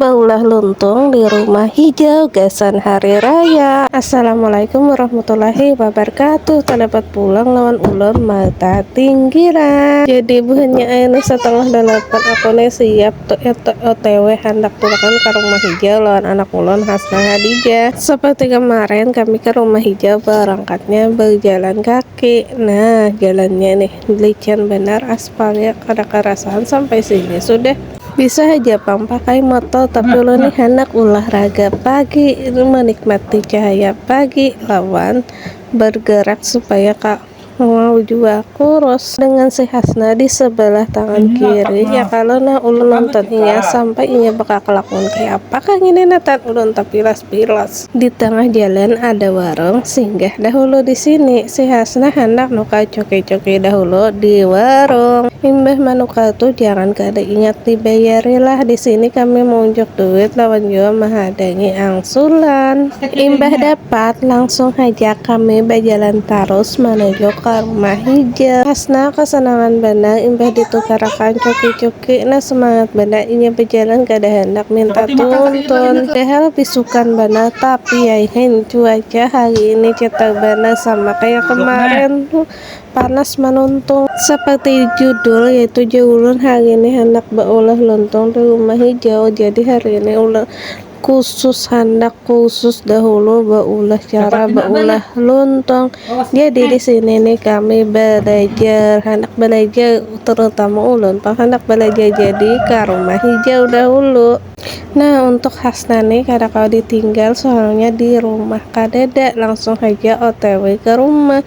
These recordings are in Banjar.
Baulah luntung di rumah hijau gasan hari raya. Assalamualaikum warahmatullahi wabarakatuh. Talapat pulang lawan ulun mata tinggiran. Jadi buhannya ayeuna satangah dalapan aku ne siap otw handak tulakan ka rumah hijau lawan anak ulun Hasna Hadijah. Seperti kemarin kami ke rumah hijau barangkatnya bajalan kaki. Nah jalannya nih licin banar aspalnya kada karasahan sampai sini sudah. Bisa haja pang pakai motor tapi ulun nih handak ulahraga pagi menikmati cahaya pagi lawan bergerak supaya ka mau jua kurus dengan si Hasna di sebelah tangan kiri ya kalo nah ulun nonton inya sampai inya bekakelakun kaya apa kah ngini nah tan ulun tapilas Pilos. Di tangah jalan ada warung, singgah dahulu di sini. Si Hasnah handak nukar cuki-cuki dahulu di warung. Imbah manukar tu jangan kada ingat dibayarilah, di sini kami maunjuk duit lawan jua mahadangi angsulan. Imbah dapat, langsung haja kami bajalan tarus manuju ka rumah hijau. Hasnah kasanangan banar imbah ditukarakan cuki-cuki. Kena semangat banar inya bejalan kada handak minta tuntun. Padahal bisukan banar tapi yaihin cuaca hari ini cetar banar sama kaya kemarin tu panas manuntung. Seperti judul yaitu ja ulun hari ini handak beulah lontong di rumah hijau jadi hari ini ulun Kusus handak kusus dahulu baulah cara baulah luntong. Jadi di sini nih kami belajar handak belajar terutama ulun tong handak belajar jadi ke rumah hijau dahulu. Nah untuk khasnya nih kada kawa ditinggal soalnya di rumah kadada langsung haja otw ke rumah.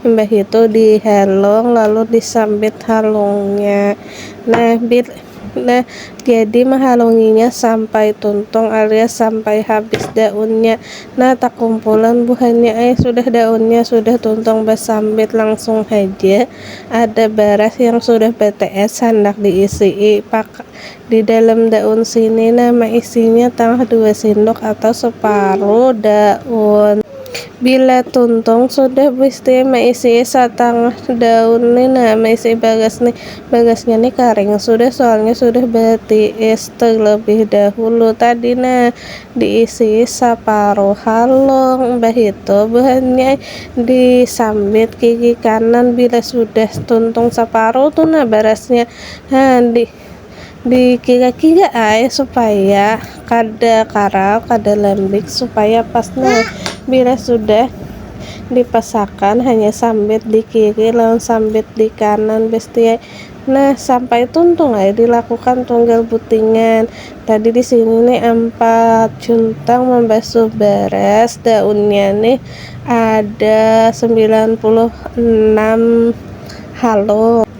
Imbah itu dihalung lalu disambit halungnya. Nah, bil, nah jadi mahalunginya sampai tuntung alias sampai habis daunnya. Nah takumpulan buhannya ai, sudah daunnya sudah tuntung basambit langsung haja ada baras yang sudah batees handak diisii pak Di dalam daun sini nah maisinya tangah dua sindok atau separuh daun. Bila tuntung sudah bsti maisi satangah daun ni nah maisi bagas ni, bagasnya ni karing sudah soalnya sudah batiis telebih dahulu tadi nah diisi saparuh halung bahitu buhannya di sambit gigi kanan bila sudah tuntung saparuh tu nah barasnya ha di dikiga-kiga ai supaya kada karau kada lembik supaya pas nah bila sudah dipasakan hanya sambit di kiri lawan sambit di kanan besti ai nah sampai tuntung ai dilakukan tunggal butingan tadi disini nih ampat cuntang mambasuh baras daunnya nih ada sembilan puluh enam halum.